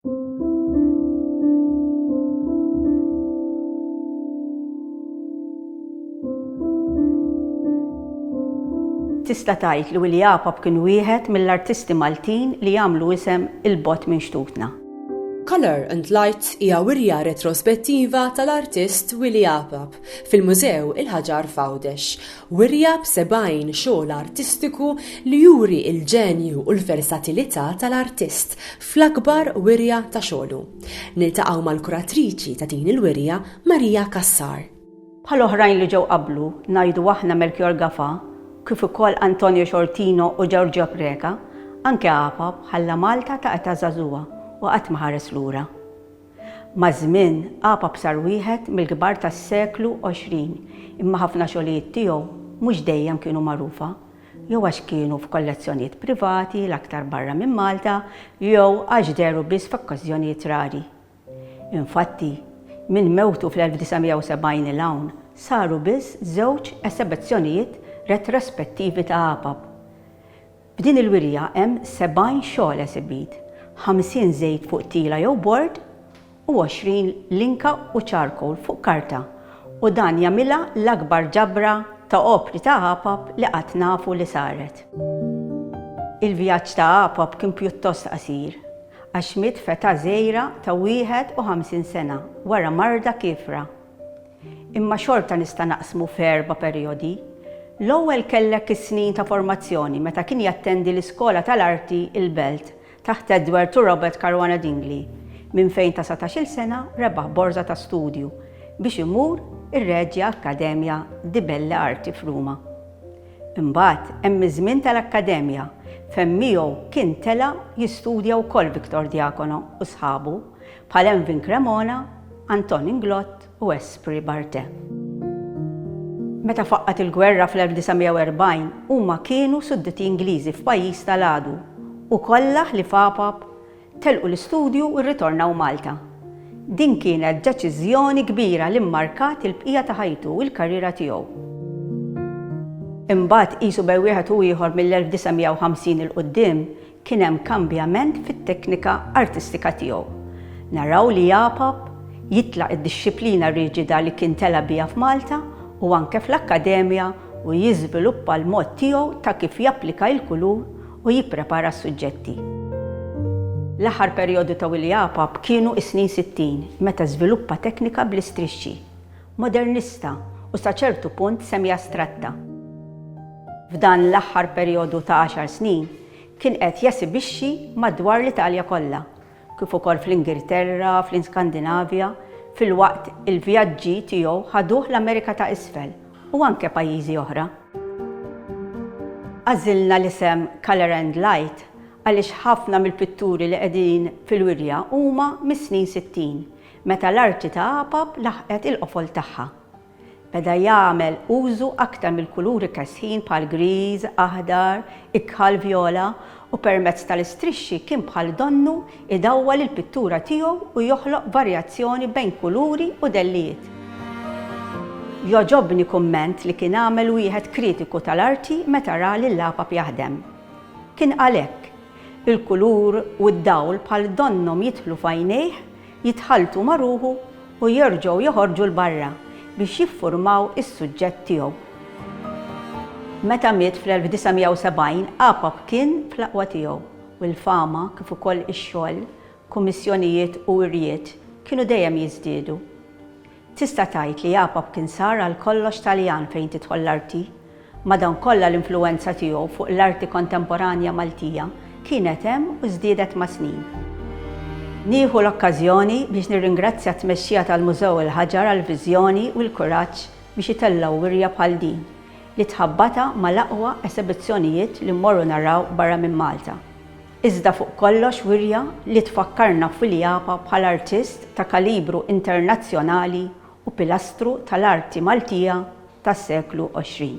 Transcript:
Tista' tgħid li Willy Apap kien wieħed mill-artisti Maltin li għamlu isem 'il bogħod minn xtutna. Colour and Light hija wirja retrospettiva tal-artist Willy Apap fil-Mużew il-Ħaġar f'Għawdex. Wirja b'sebgħin xogħol artistiku li juri l-ġenju u l-versatilità tal-artist fl-akbar wirja ta' xogħlu. Niltaqgħu mal-kuratriċi ta' din il-wirja Maria Cassar. Bħal oħrajn li ġew qablu, ngħidu aħna Melchior Gafa, kif ukoll Antonio Sciortino u Giorgio Preca, anke Apap ħalla Malta ta' età żagħżugħa u qatt ma ħares lura. Maż-żmien, Apap sar wieħed mill-kbar tas-seklu għoxrin, imma ħafna xogħlijiet tiegħu mhux dejjem kienu magħrufa jew għax kienu f'kollezzjonijiet privati, l-aktar barra minn Malta, jew għax dehru biss f'okkażjonijiet rari. Infatti, minn mewtu fl-1970 'il hawn saru biss żewġ esebizzjonijiet retrospettivi ta' Apap. F'din il-wirja hemm 70 xogħol esibit, 50 żejt fuq tila jew bord, u għoxrin linka u charcoal fuq karta u dan jagħmilha l-akbar ġabra ta' opri ta' għapap li qatt nafu li saret. Il-vjaġġ ta' għapap kien pjuttost qasir għax Schmidt fetha żgħira ta' 51 sena wara marda kiefra. Imma xorta nista' naqsmu f'erba' perijodi. L-ewwel kellek is-snin ta' formazzjoni meta kien jattendi l-Iskola tal-Arti il-Belt Taħt Edward u Robert Caruana Dingli, minn fejn ta' satax-il sena rebaħ borża ta' studju biex imur ir-Regia Accademia di Belle Arti f'Ruma. Imbagħad hemm iż-żmien tal-Akkademja fejn miegħu kien tela' jistudja wkoll Victor Diacono u sħabu bħal Envin Cremona, Anton Inglott, u Espri Barte. Meta faqqgħet il-gwerra fl-1940 huma kienu sudditi Ingliżi f'pajjiż ta' l-għadu u kollha ħlief għapap telqu l-istudju u rritornaw Malta. Din kienet deċiżjoni kbira li mmarkat il-bqija ta' ħajtu u l-karriera tiegħu. Imbagħad qisu bejn wieħed u ieħor mill-1950 'il quddiem Kien hemm kambjament fit-teknika artistika tiegħu. Naraw li Apap jitlaq id-dixxiplina riġida li kien tela' biha f'Malta u anke fl-Akkademja u jiżviluppa l-mod tiegħu ta' kif japplika il-kulur u jipprepara s-suġġetti. L-aħħar perjodu ta' Willy Apap kienu s-snin sittin meta żviluppa teknika bl-istrixxi. modernista u sa ċertu punt semi-astratta. F'dan l-aħħar perjodu ta' għaxar snin kien qed jesibixxi madwar l-Italja kollha, kif ukoll fl-Ingilterra, fl-Iskandinavja, filwaqt il-vjaġġi tiegħu ħaduh l-Amerika ta' Isfel u anke pajjiżi oħra. Għażilna l-isem Colour and Light għaliex ħafna mill-pitturi li qegħdin fil-wirja huma mis-snin sittin, Meta l-arti ta' Apap laħqet il-qofol tagħha, beda jagħmel użu aktar mill-kuluri kesħin bħal griż, aħdar, ikħal, vjola, u permezz tal-istrixxi kien bħal donnu jdawwal il-pittura tiegħu u joħloq varjazzjoni bejn kuluri u dellijiet. Jogħġobni kumment li kien għamel wieħed kritiku tal-arti meta ra lil Apap jaħdem. Kien qal hekk, Il-kulur u d-dawl bħal donnhom jidħlu f'għajnejh jitħalltu ma' ruħu u jerġgħu joħorġu 'l barra biex jiffurmaw is-suġġett tiegħu. Meta miet fl-1970, APAP kien fl-aqwa tiegħu u l-fama kif ukoll ix-xogħol, kummissjonijiet u wirjiet kienu dejjem jiżdiedu. Tista' tgħid li Apap kien sar għalkollox Taljan fejn tidħol l-arti. Madankollha l-influwenza tiegħu fuq l-arti kontemporanja Maltija kienet hemm u żdiedet mas-snin. Nieħu l-okkażjoni biex nirringrazzja t-tmexxija tal-Mużew il-Ħaġar għall-viżjoni u l-kuraġġ biex itellgħu wirja bħal din, li tħabbatha mal-aqwa esebizzjonijiet li mmorru naraw barra minn Malta. iżda fuq kollox wirja li tfakkarna f'Wiljapa bħala artist ta' kalibru internazzjonali u pilastru tal-arti Maltija tas-seklu għoxrin.